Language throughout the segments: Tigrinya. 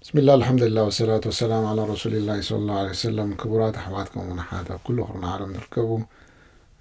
ብስሚላ ኣልሓምዱሊላ ወሰላቱ ወሰላም ዓላ ረሱሊላሂ ሰለላሁ ዐለይሂ ወሰለም ክቡራት ኣሕዋት ከምኡውን ኣሓት ኣብ ኩሉ ቅርኒ ዓለም ትርከቡ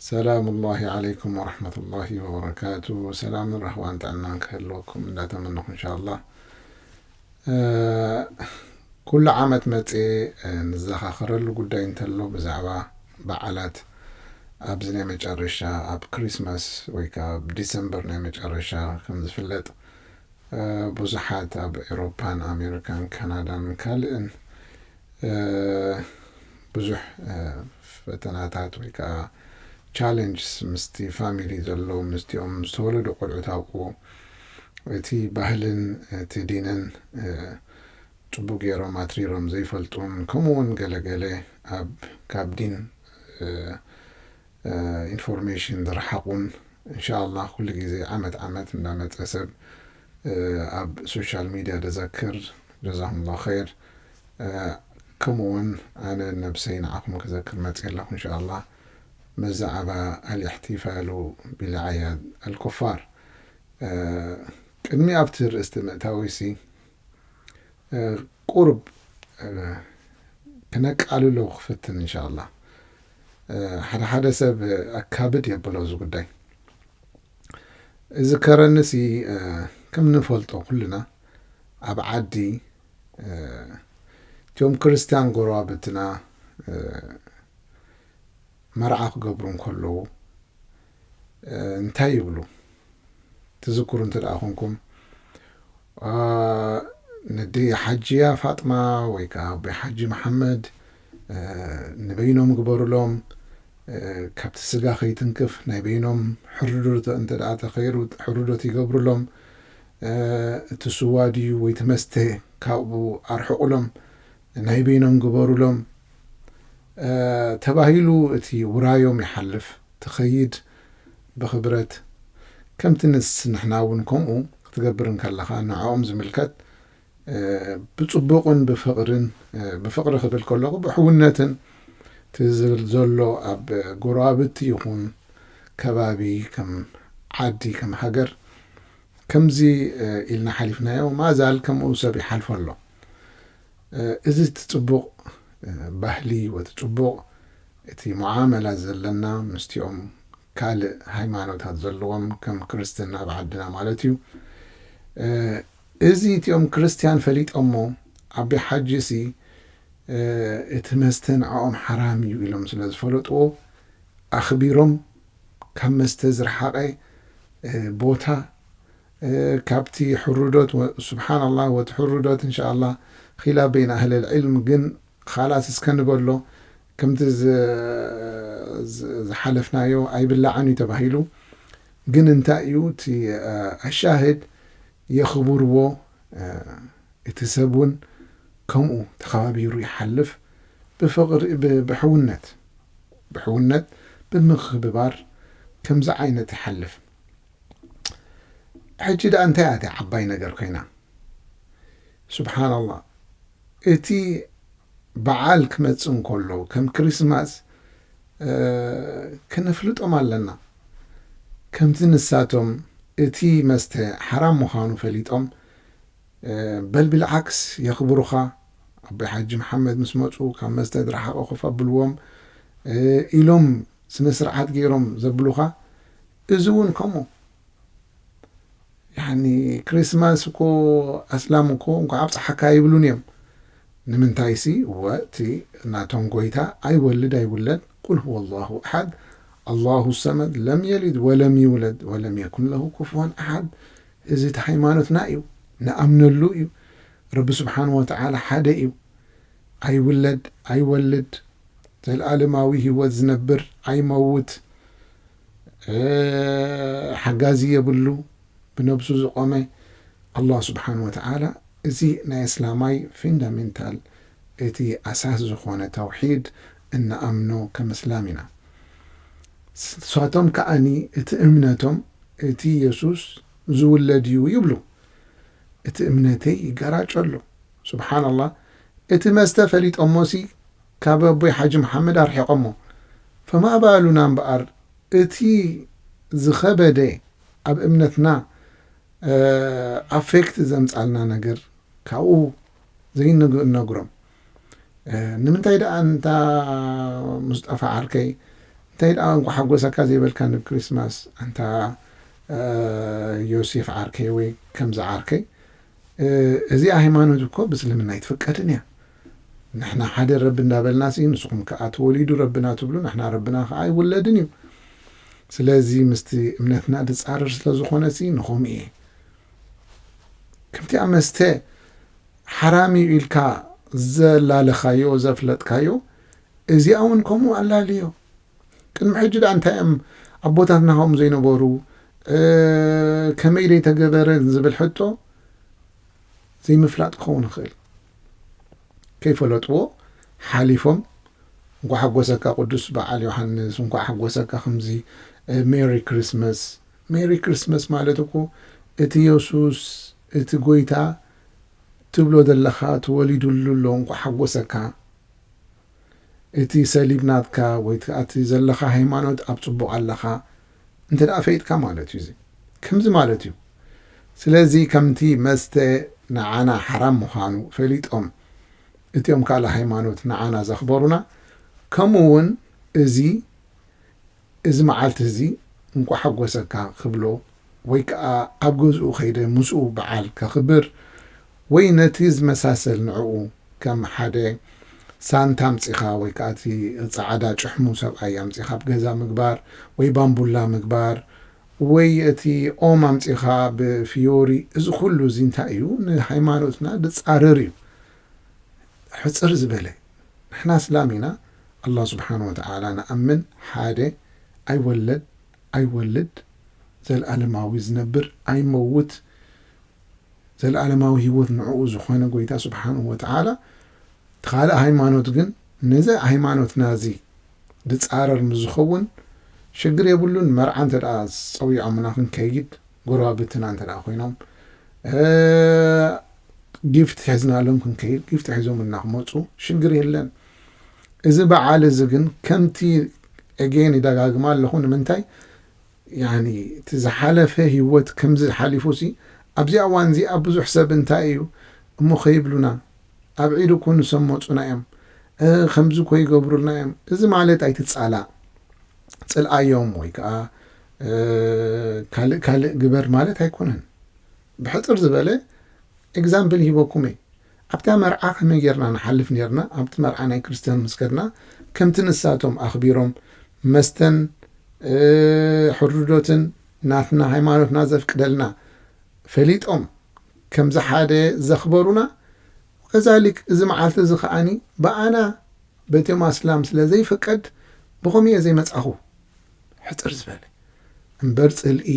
ሰላሙላሂ ዓለይኩም ወረሕመቱላሂ ወበረካቱ ሰላምን ራህዋን ጥዕናን ክህልወኩም እንዳተመነኹ እንሻላ ኩሉ ዓመት መፅ ንዘኻኸረሉ ጉዳይ እንተሎ ብዛዕባ በዓላት ኣብዚ ናይ መጨረሻ ኣብ ክሪስማስ ወይ ከዓ ኣብ ዲሰምበር ናይ መጨረሻ ከም ዝፍለጥ ብዙሓት ኣብ ኤሮፓን ኣሜሪካን ካናዳን ካልእን ብዙሕ ፈተናታት ወይ ከኣ ቻለንጅስ ምስቲ ፋሚሊ ዘለዎም ምስቲኦም ዝተወለዱ ቆልዑ ታውቁ እቲ ባህልን እቲ ዲንን ጽቡቅ ጌሮም ኣትሪሮም ዘይፈልጡን ከምኡውን ገለ ገለ ኣብ ካብ ዲን ኢንፎርሜሽን ዝረሓቁን እንሻኣላህ ኩሉ ግዜ ዓመት ዓመት እንዳመጸ ሰብ ኣብ ሶሻል ሚድያ ዘዘክር ጀዛኩሙላህ ኸይር ከምኡ ውን ኣነ ነብሰይ ንዓኹም ክዘክር መጽየ ኣለኹ እንሻኣላህ መዛዕባ ኣልእሕቲፋሉ ቢልዓያድ ኣልኩፋር ቅድሚ ኣብቲ ርእስቲ ምእታወይሲ ቁሩብ ክነቃልሎ ክፍትን እንሻላ ሓደ ሓደ ሰብ ኣካብድ የብሎ እዚ ጉዳይ እዚ ከረንሲ ከም ንፈልጦ ኩልና ኣብ ዓዲ እቶም ክርስትያን ጎረባብትና መርዓ ክገብሩ እንከለዉ እንታይ ይብሉ ትዝክሩ እንተደኣ ኮንኩም ነዲ ሓጂያ ፋጥማ ወይ ከዓ ኣቦይ ሓጂ መሓመድ ንበይኖም ግበሩሎም ካብቲ ስጋ ከይትንክፍ ናይ በይኖም ሕርዶት እንተደኣ ተኸይሩ ሕርዶት ይገብሩሎም እቲ ስዋ ድዩ ወይ ትመስተ ካብኡ ኣርሕቑሎም ናይ በይኖም ግበሩሎም ተባሂሉ እቲ ውራዮም ይሓልፍ ትኸይድ ብኽብረት ከምቲ ንስ ንሕና ውን ከምኡ ክትገብር እንከለኻ ንዕኦም ዝምልከት ብጽቡቕን ብፍቕርን ብፍቕሪ ክብል ከለኹ ብሕውነትን እቲ ዝብል ዘሎ ኣብ ጎረባብቲ ይኹን ከባቢ ከም ዓዲ ከም ሃገር ከምዚ ኢልና ሓሊፍናዮ ማእዛል ከምኡ ሰብ ይሓልፎ ኣሎ። እዚ እቲ ጽቡቕ ባህሊ ወቲ ጽቡቕ እቲ ሙዓመላ ዘለና ምስቲኦም ካልእ ሃይማኖታት ዘለዎም ከም ክርስትና ኣብ ዓድና ማለት እዩ እዚ እቲኦም ክርስትያን ፈሊጦሞ ኣቢ ሓጂ ሲ እቲ መስተ ንዕኦም ሓራም እዩ ኢሎም ስለ ዝፈለጥዎ ኣኽቢሮም ካብ መስተ ዝረሓቐ ቦታ ካብቲ ሕሩዶት ወ ሱብሓን ኣላህ ወቲ ሕሩዶት እንሻኣላህ ኺላፍ በይን ኣህለል ዒልም ግን ኻላስ እስከ ንበሎ ከምቲ ዝሓለፍናዮ ኣይብላዕን እዩ ተባሂሉ ግን እንታይ እዩ እቲ ኣሻህድ የኽብርዎ እቲ ሰብ እውን ከምኡ ተኸባቢሩ ይሓልፍ ብፍቕሪ ብሕውነት ብሕውነት ብምኽብባር ከምዚ ዓይነት ይሓልፍ። ሕጂ ደኣ እንታይ እያ እታ ዓባይ ነገር ኮይና? ስብሓናላህ እቲ በዓል ክመጽእ እንከሎ ከም ክሪስማስ ክነፍልጦም ኣለና ከምቲ ንሳቶም እቲ መስተ ሓራም ምዃኑ ፈሊጦም በል ብልዓክስ የኽብሩኻ ኣቦይ ሓጂ መሓመድ ምስ መፁ ካብ መስተ ድረሓቐ ኮፍ ኣብልዎም ኢሎም ስነ ስርዓት ገይሮም ዘብሉኻ እዚ ውን ከምኡ ያኒ ክሪስማስ እኮ ኣስላም እኮ እንኳዕ ኣብፀሓካ ይብሉን እዮም ንምንታይሲ እወ እቲ ናቶም ጎይታ ኣይወልድ ኣይውለድ ቁል ሁወ ላሁ ኣሓድ ኣላሁ ሰመድ ለም የሊድ ወለም ይውለድ ወለም የኩን ለሁ ኩፍዋን ኣሓድ እዚ እቲ ሃይማኖትና እዩ ንኣምነሉ እዩ ረቢ ስብሓን ወተዓላ ሓደ እዩ ኣይውለድ ኣይወልድ ዘልኣለማዊ ህይወት ዝነብር ኣይመውት ሓጋዚ የብሉ ብነብሱ ዝቆመ ኣላህ ስብሓን ወተዓላ እዚ ናይ ኣስላማይ ፊንዳሜንታል እቲ ኣሳስ ዝኾነ ተውሒድ እንኣምኖ ከም ኣስላም ኢና ንሳቶም ከኣኒ እቲ እምነቶም እቲ የሱስ ዝውለድ እዩ ይብሉ እቲ እምነተይ ይገራጨሉ ስብሓን ኣላህ እቲ መስተ ፈሊጦሞሲ ካብ ኣቦይ ሓጂ መሓመድ ኣርሒቐሞ ፈማእባእሉና እምበኣር እቲ ዝኸበደ ኣብ እምነትና ኣፌክት ዘምጻልና ነገር ካብኡ ዘይንነግሮም ንምንታይ ደኣ እንታ ሙስጠፋ ዓርከይ እንታይ ደኣ እንኳ ሓጎሰካ ዘይበልካኒ ብ ክሪስማስ ኣንታ ዮሴፍ ዓርከይ ወይ ከምዚ ዓርከይ እዚኣ ሃይማኖት እኮ ብእስልምና ኣይትፍቀድን እያ ንሕና ሓደ ረቢ እንዳበልናስ እዩ ንስኹም ክኣ ተወሊዱ ረብና ትብሉ ንሕና ረብና ክኣ ኣይውለድን እዩ ስለዚ ምስቲ እምነትና ድጻረር ስለ ዝኾነሲ ንኹም እየ ከምቲ ኣብ መስተ ሓራም እዩ ኢልካ ዘላለኻዮ ዘፍለጥካዮ እዚኣ እውን ከምኡ ኣላልዮ ቅድሚ ሕጂ ድኣ እንታይ እዮም ኣቦታትና ከምኡ ዘይነበሩ ከመይ ደይተገበረን ዝብል ሕቶ ዘይምፍላጥ ክኸውን ይኽእል ከይፈለጥዎ ሓሊፎም እንኳዕ ሓጎሰካ ቅዱስ በዓል ዮሓንስ እንኳዕ ሓጎሰካ ከምዚ ሜሪ ክርስመስ ሜሪ ክርስመስ ማለት እኮ እቲ የሱስ እቲ ጎይታ ትብሎ ዘለኻ ተወሊዱሉ ኣሎ እንኳዕ ሓጎሰካ እቲ ሰሊብ ናትካ ወይ እቲ ዘለኻ ሃይማኖት ኣብ ጽቡቕ ኣለኻ እንተ ፈይጥካ ማለት እዩ እዚ ከምዚ ማለት እዩ ስለዚ ከምቲ መስተ ንዓና ሓራም ምዃኑ ፈሊጦም እቲኦም ካልእ ሃይማኖት ንዓና ዘኽበሩና ከምኡ ውን እዚ እዚ መዓልቲ እዚ እንቋዕ ሓጎሰካ ክብሎ ወይ ከኣ ኣብ ገዝኡ ከይደ ምስኡ በዓል ከኽብር ወይ ነቲ ዝመሳሰል ንዕኡ ከም ሓደ ሳንታ ኣምጺኻ ወይ ከኣ እቲ ጸዓዳ ጭሕሙ ሰብኣይ ኣምጺኻ ኣብ ገዛ ምግባር ወይ ባምቡላ ምግባር ወይ እቲ ኦም ኣምጺኻ ብ ፍዮሪ እዚ ኩሉ እዚ እንታይ እዩ ንሃይማኖትና ድጻረር እዩ ሕጽር ዝበለ ንሕና ኣስላም ኢና ኣላህ ስብሓን ወተዓላ ንኣምን ሓደ ኣይወለድ ኣይወልድ ዘልኣለማዊ ዝነብር ኣይመውት ዘልኣለማዊ ህይወት ንዕኡ ዝኾነ ጎይታ ሱብሓነሁ ወተዓላ እቲ ካልእ ሃይማኖት ግን ነዚ ሃይማኖትና እዚ ድጻረር ምስ ዝኸውን ሽግር የብሉን መርዓ እንተ ጸዊዖምና ክንከይድ ጎረባብትና እንተ ኮይኖም ጊፍት ሒዝናሎም ክንከይድ ጊፍት ሒዞምልና ክመጹ ሽግር የለን እዚ በዓል እዚ ግን ከምቲ Again ይደጋግማ ኣለኹ ንምንታይ ያኒ እቲ ዝሓለፈ ሂወት ከምዚ ሓሊፉሲ ኣብዚኣ እዋን እዚኣ ብዙሕ ሰብ እንታይ እዩ እሞ ከይብሉና ኣብ ዒድ እኮ ንሶም መጹና እዮም ከምዚ እኮ ይገብሩልና እዮም እዚ ማለት ኣይትጻላእ ጽልኣዮም ወይ ከኣ ካልእ ካልእ ግበር ማለት ኣይኮነን ብሕጽር ዝበለ ኤግዛምፕል ሂበኩም እየ ኣብታ መርዓ ከመይ ጌርና ንሓልፍ ኔርና ኣብቲ መርዓ ናይ ክርስትያን ምስ ከድና ከምቲ ንሳቶም ኣኽቢሮም መስተን ሕርዶትን ናትና ሃይማኖትና ዘፍቅደልና ፈሊጦም ከምዚ ሓደ ዘኽበሩና ወከዛሊክ እዚ መዓልቲ እዚ ከኣ ብኣና በቶም ኣስላም ስለ ዘይፍቀድ ብኸምኡ እየ ዘይመጻኹ ሕጽር ዝበለ እምበር ጽልኢ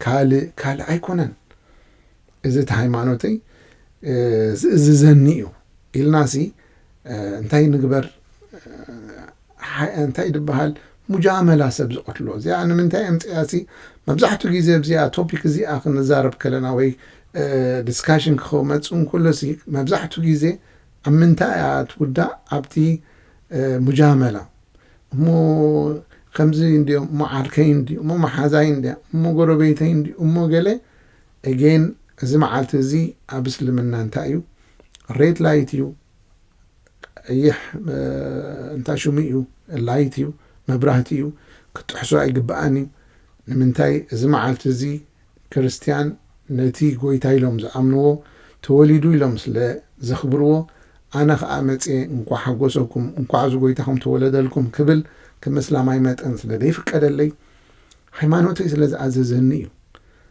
ካልእ ካልእ ኣይኮነን። እዚ እቲ ሃይማኖተይ ዝእዝዘኒ እዩ ኢልናሲ እንታይ ንግበር እንታይ ድበሃል ሙጃመላ ሰብ ዝቐትሎ እዚኣ ንምንታይ ኣምፅያሲ መብዛሕትኡ ግዜ ኣብዚኣ ቶፒክ እዚኣ ክንዛረብ ከለና ወይ ዲስካሽን ክመፁ እንከሎሲ መብዛሕትኡ ግዜ ኣብ ምንታይ እያ ትውዳእ ኣብቲ ሙጃመላ እሞ ከምዚ እንዲዮ እሞ ዓርከይ እንዲ እሞ መሓዛይ እንዲያ እሞ ጎረቤተይ እንዲ እሞ ገለ Again እዚ መዓልቲ እዚ ኣብ እስልምና እንታይ እዩ ሬድ ላይት እዩ ቀይሕ እንታይ ሽሙ እዩ ላይት እዩ መብራህቲ እዩ ክትጥሕሶ ኣይግባኣን እዩ ንምንታይ እዚ መዓልቲ እዚ ክርስትያን ነቲ ጎይታ ኢሎም ዝኣምንዎ ተወሊዱ ኢሎም ስለ ዘኽብርዎ ኣነ ኸኣ መጽየ እንኳዕ ሓጎሰኩም እንኳዕ እዚ ጎይታኹም ተወለደልኩም ክብል ከም እስላማይ መጠን ስለ ዘይፍቀደለይ ሃይማኖተይ ስለ ዝኣዘዘኒ እዩ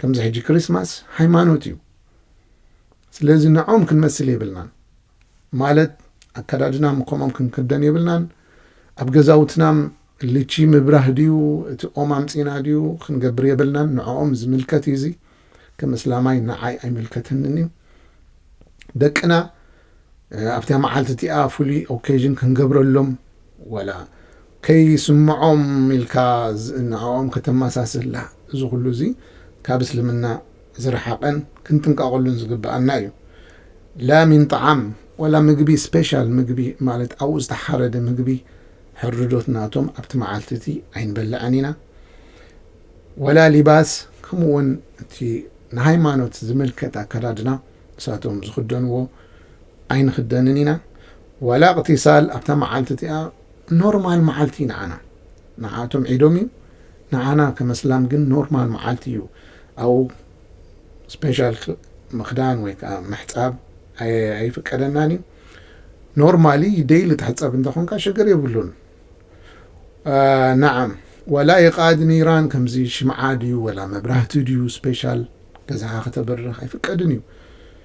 ከምዚ ሕጂ ክሪስማስ ሃይማኖት እዩ ስለዚ ንዖም ክንመስል የብልናን ማለት ኣከዳድናም ከምኦም ክንክደን የብልናን ኣብ ገዛውትናም ልቺ ምብራህ ድዩ እቲ ኦም ኣምጺና ድዩ ክንገብር የብልናን ንዕኦም ዝምልከት እዩ እዚ ከም እስላማይ ንዓይ ኣይምልከተንን እዩ ደቅና ኣብታ መዓልቲ እቲኣ ፍሉይ ኦኬዥን ክንገብረሎም ወላ ከይስምዖም ኢልካ ንዕኦም ከተመሳስላ እዚ ኩሉ እዚ ካብ እስልምና ዝረሓቀን ክንጥንቀቀሉን ዝግበኣና እዩ ላ ሚን ጣዓም ወላ ምግቢ ስፔሻል ምግቢ ማለት ኣብኡ ዝተሓረደ ምግቢ ሕርዶት ናቶም ኣብቲ መዓልቲ እቲ ኣይንበልዕን ኢና ወላ ሊባስ ከምኡ ውን እቲ ንሃይማኖት ዝምልከት ኣከዳድና ንሳቶም ዝኽደንዎ ኣይንኽደንን ኢና ወላ እቅቲሳል ኣብታ መዓልቲ እቲኣ ኖርማል መዓልቲ ንዓና ንዓኣቶም ዒዶም እዩ ንዓና ከም ኣስላም ግን ኖርማል መዓልቲ እዩ ኣብኡ ስፔሻል ምኽዳን ወይ ከዓ ምሕፃብ ኣይፍቀደናን እዩ ኖርማሊ ደይሊ ትሕፀብ እንተኾንካ ሽግር የብሉን ናዓም ወላ ይቃድ ኒራን ከምዚ ሽምዓ ድዩ ወላ መብራህቲ ድዩ ስፔሻል ገዛኻ ከተብርህ ኣይፍቀድን እዩ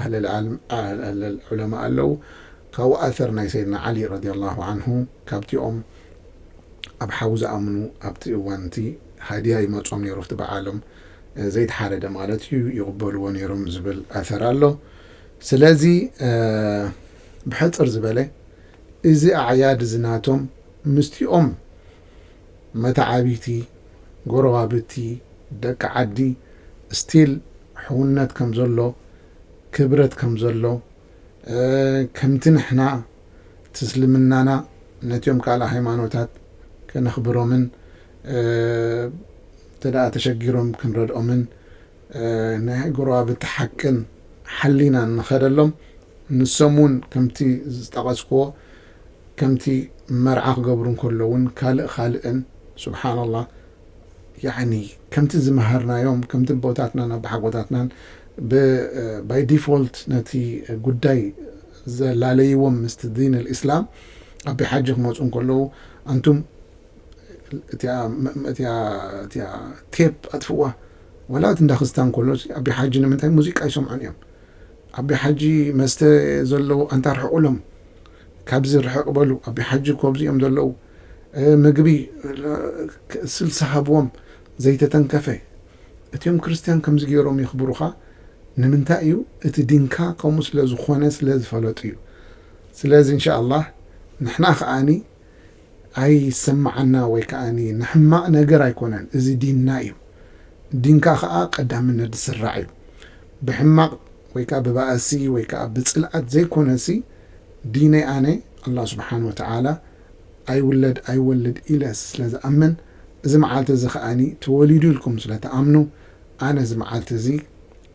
ኣህለል ዓልም ኣህለል ዑለማእ ኣለው ካብኡ ኣሰር ናይ ሰይድና ዓሊ ረዲየላሁ ዓንሁ ካብቲኦም ኣብ ሓዊ ዝኣምኑ ኣብቲ እዋን እቲ ሃድያ ይመጾም ኔሩ ኣብቲ በዓሎም ዘይተሓረደ ማለት እዩ ይቕበልዎ ኔሮም ዝብል ኣሰር ኣሎ ስለዚ ብሕጽር ዝበለ እዚ ኣዕያድ እዚ ናቶም ምስቲኦም መተዓብይቲ፣ ጎረባብቲ፣ ደቂ ዓዲ still ሕውነት ከም ዘሎ ክብረት ከም ዘሎ ከምቲ ንሕና ትስልምናና ነትዮም ካልኣ ሃይማኖታት ከነኽብሮምን እንተ ተሸጊሮም ክንረድኦምን ንጎረባብቲ ሓቅን ሓሊናን ንኸደሎም ንሶም ውን ከምቲ ዝጠቐስክዎ ከምቲ መርዓ ክገብሩ እንከሎ ውን ካልእ ካልእን ሱብሓነላህ ያዕኒ ከምቲ ዝመሃርናዮም ከምቲ ኣቦታትናን ኣቦሓጎታትናን ብ ባይ ዲፎልት ነቲ ጉዳይ ዘላለይዎም ምስቲ ዲን ኣልኢስላም ኣቢ ሓጂ ክመጹ እንከለዉ ኣንቱም እቲኣ እቲኣ እቲኣ ቴፕ ኣጥፍእዋ ዋላ እቲ እንዳክስታን ኮሎ ሲ ኣቢ ሓጂ ንምንታይ ሙዚቃ ኣይሰምዑን እዮም ኣቢ ሓጂ መስተ ዘለዉ ኣንታ ኣርሕቁሎም ካብዚ ርሕቅ በሉ ኣቢ ሓጂ እኮ ኣብዚ እዮም ዘለዉ ምግቢ ስልሲ ሃብዎም ዘይተተንከፈ እቲኦም ክርስትያን ከምዚ ገይሮም የክብሩካ ንምንታይ እዩ እቲ ዲንካ ከምኡ ስለ ዝኮነ ስለ ዝፈለጡ እዩ ስለዚ እንሻ ኣላህ ንሕና ከኣ ኣይሰማዓና ወይ ከኣ ንሕማቅ ነገር ኣይኮነን እዚ ዲንና እዩ ዲንካ ከኣ ቀዳምነት ዝስራዕ እዩ ብሕማቅ ወይ ከኣ ብባእሲ ወይ ከኣ ብጽልኣት ዘይኮነሲ ዲነይ ኣነ ኣላህ ስብሓን ወተዓላ ኣይውለድ ኣይወልድ ኢለ ስለ ዝኣምን እዚ መዓልቲ እዚ ከኣ ተወሊዱ ኢልኩም ስለ ትኣምኑ ኣነ እዚ መዓልቲ እዚ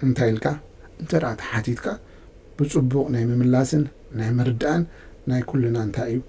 እንታይ ኢልካ እንተ ተሓቲትካ ብጽቡቅ ናይ ምምላስን ናይ ምርዳእን ናይ ኩልና እንታይ እዩ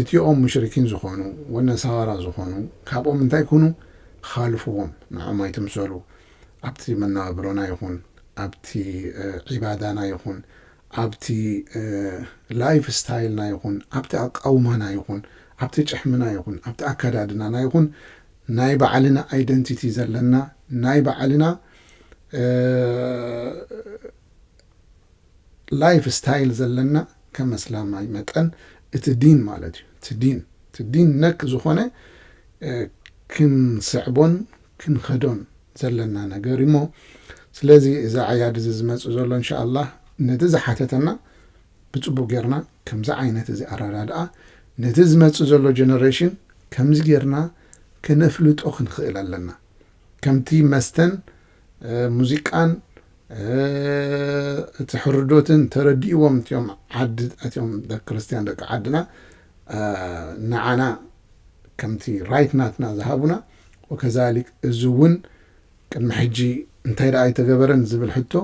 እቲኦም ሙሽሪኪን ዝኾኑ ወነሳዋራ ዝኾኑ ካብኦም እንታይ ኩኑ ኻልፍዎም ንዖም ኣይትምሰሉ ኣብቲ መነባብሮና ይኹን ኣብቲ ዒባዳና ይኹን ኣብቲ ላይፍ ስታይልና ይኹን ኣብቲ ኣቃውማና ይኹን ኣብቲ ጭሕምና ይኹን ኣብቲ ኣከዳድናና ይኹን ናይ ባዕልና ኣይደንቲቲ ዘለና ናይ ባዕልና ላይፍ ስታይል ዘለና ከም ኣስላማይ መጠን እቲ ዲን ማለት እዩ እቲ ዲን እቲ ዲን ነክ ዝኾነ ክንስዕቦን ክንኸዶን ዘለና ነገር እዩ እሞ ስለዚ እዚ ዓያድ እዚ ዝመጽእ ዘሎ እንሻኣላህ ነቲ ዝሓተተና ብጽቡቕ ጌርና ከምዚ ዓይነት እዚ ኣረዳድኣ ነቲ ዝመጽእ ዘሎ ጀነሬሽን ከምዚ ጌርና ከነፍልጦ ክንኽእል ኣለና ከምቲ መስተን ሙዚቃን እቲ ሕርዶትን ተረዲእዎም እትዮም ዓዲ እትዮም ደቂ ክርስትያን ደቂ ዓድና ንዓና ከምቲ ራይት ናትና ዝሃቡና ወከዛሊክ እዚ እውን ቅድሚ ሕጂ እንታይ ደኣ ኣይተገበረን ዝብል ሕቶ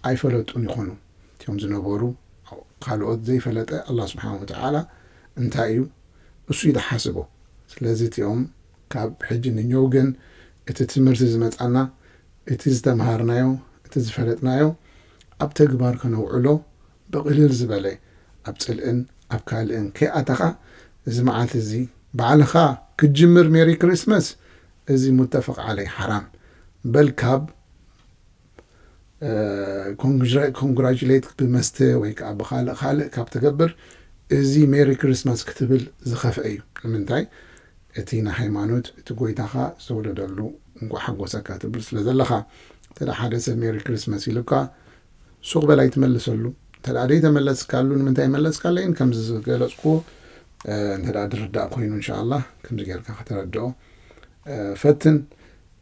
ኣይፈለጡን ይኾኑ እትዮም ዝነበሩ ካልኦት ዘይፈለጠ ኣላ ስብሓን ወተዓላ እንታይ እዩ እሱ እዩ ዝሓስቦ ስለዚ እትኦም ካብ ሕጂ ንኞው ግን እቲ ትምህርቲ ዝመጻና እቲ ዝተመሃርናዮ እቲ ዝፈለጥናዮ ኣብ ተግባር ከነውዕሎ ብቕልል ዝበለ ኣብ ጽልእን ኣብ ካልእን ከይኣተኻ እዚ መዓልቲ እዚ ባዕልኻ ክትጅምር ሜሪ ክሪስትመስ እዚ ሙተፈቅ ዓለይ ሓራም በል ካብ ኮንግራጁሌት ብመስተ ወይ ከዓ ብካልእ ካልእ ካብ ትገብር እዚ ሜሪ ክሪስማስ ክትብል ዝኸፍኤ እዩ ንምንታይ እቲ ንሃይማኖት እቲ ጎይታኻ ዝተወለደሉ እንኳዕ ሓጎሰካ ትብል ስለ ዘለኻ እንተ ሓደ ሰብ ሜሪ ክሪስማስ ኢሉካ ሱቕ በል ኣይትመልሰሉ እንተ ዘይተመለስካሉ ንምንታይ መለስካለይን ከምዚ ዝገለፅኩዎ እንተ ዝርዳእ ኮይኑ እንሻ ኣላ ከምዚ ጌርካ ከተረድኦ ፈትን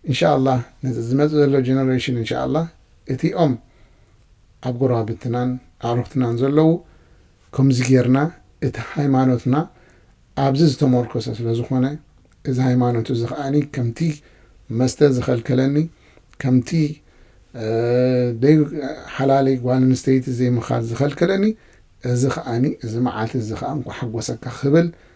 እንሻኣላህ ነዚ ዝመጽእ ዘሎ ጀነሬሽን እንሻኣላህ እቲኦም ኣብ ጎረባብትናን ኣዕሩኽትናን ዘለዉ ከምዚ ጌርና እቲ ሃይማኖትና ኣብዚ ዝተሞርከሰ ስለ ዝኾነ እዚ ሃይማኖት እዚ ከኣ ከምቲ መስተ ዝኸልከለኒ ከምቲ ደይ ሓላለይ ጓል ኣንስተይቲ ዘይምኻድ ዝኸልከለኒ እዚ ከኣ እዚ መዓልቲ እዚ ከኣ እንኳ ሓጎሰካ ክብል